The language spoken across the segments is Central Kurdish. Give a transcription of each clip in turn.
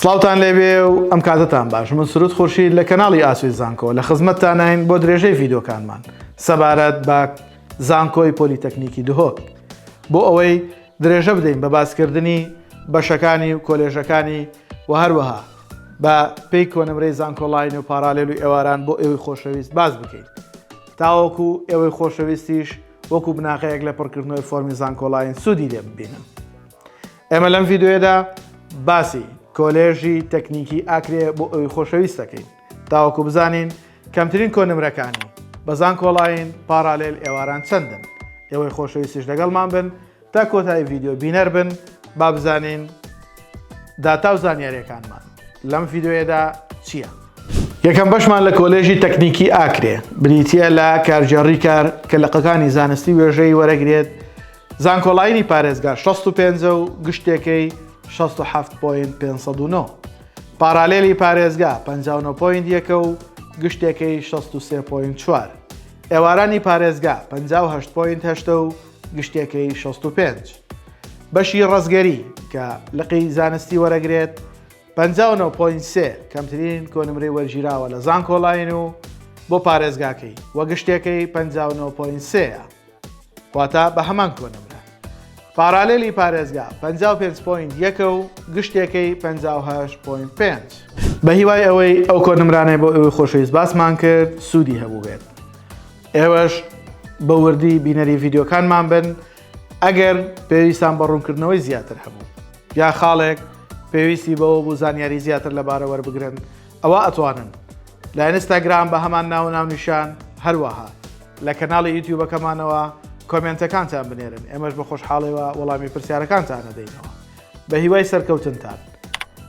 سڵاوتان لێبێ و ئەم کاتەتان باش من سرود خورشید لە کەناڵی ئاسوی زانکۆ لە خزمەتتانین بۆ درێژەی ڤیدۆکانمان سەبارەت بە زانکۆی پۆلیتەکنیکی دهۆک بۆ ئەوەی درێژە بدەین بە باسکردنی بەشەکانی و کۆلێژەکانی و هەروەها بە پێی کۆنمرەی زانکۆڵین و پارالێل و ئێواران بۆ ئێوەی خۆشەویست باز بکەین تاوەکو ئێوەی خۆشەویستیش وەکو بناغەیەک لە پڕکردنەوەی فۆرمی زانکۆڵین سوودی لێ ببینن ئێمە لەم ڤیددیوێدا باسی کۆلێژی تەکنیکی ئاکرێ بۆ ئەوی خۆشەویست دەکەین تاوەکو بزانین کەمترین کۆنمرەکانی بەزان کۆڵین پارالێل ئێواران چەندن ئێوەی خۆشەویستیش لەگەڵمان بن تا کۆتایی ڤیددیو بینەر بن با بزانین داتا و زانیاریەکانمان لەم ڤیددیوێدا چییە؟ یەکەم بەشمان لە کۆلێژی تەکنیکی ئاکرێ بریتە لە کارجێڕی کار کە لەقەکانی زانستی وێژەی وەرەگرێت زانکۆلاینی پارێزگا شەست و پێنج و گشتێکەی شەست و حەفت پۆینت پێنج سەد و نۆ. پارالێلی پارێزگا پەنجا و نۆ پۆینت یەکە و گشتێکەی شەست و سێ پۆینت چوار. ئێوارانی پارێزگا پەنجا و هەشت پۆینت هەشتە و گشتێکەی شەست و پێنج. بەشی ڕەزگەری کە لقی زانستی وەرەگرێت پەنجا و نۆ پۆینت سێ کەمترین کۆنمرەی وەرگیراوە لە زانکۆلاین و بۆ پارێزگاکەی و گشتێکەی پەنجا و نۆ پۆینت سێیە. واتە بە هەمان کۆنمرە پارالێلی پارێزگا 55 پوین یەکە و گشتێکەی 58 پوین پێنج بە هیوای ئەوەی ئەو کۆنمرانەی بۆ ئەوەی خۆشەویست باسمان کرد سوودی هەبوو بێت ئێوەش بە وردی بینەری ڤیددیوکانمان بن ئەگەر پێویستان بە ڕوونکردنەوەی زیاتر هەبوو یا خاڵێک پێویستی بەوە بوو زانیاری زیاتر لەبارە وەربگرن ئەوا ئەتوانن لە ئینستاگرام بە هەمان ناو و ناونیشان هەروەها لە کەناڵی یوتیوبەکەمانەوە کۆمێنتەکانتان بنێرن ئێمەش بە خۆشحاڵیەوە وەڵامی پرسیارەکانتان ئەدەینەوە بە هیوای سەرکەوتنتان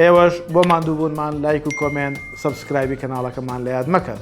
ئێوەش بۆ ماندووبوونمان لایک و کۆمێنت سەبسکرایبی کەناڵەکەمان لە یاد مەکەن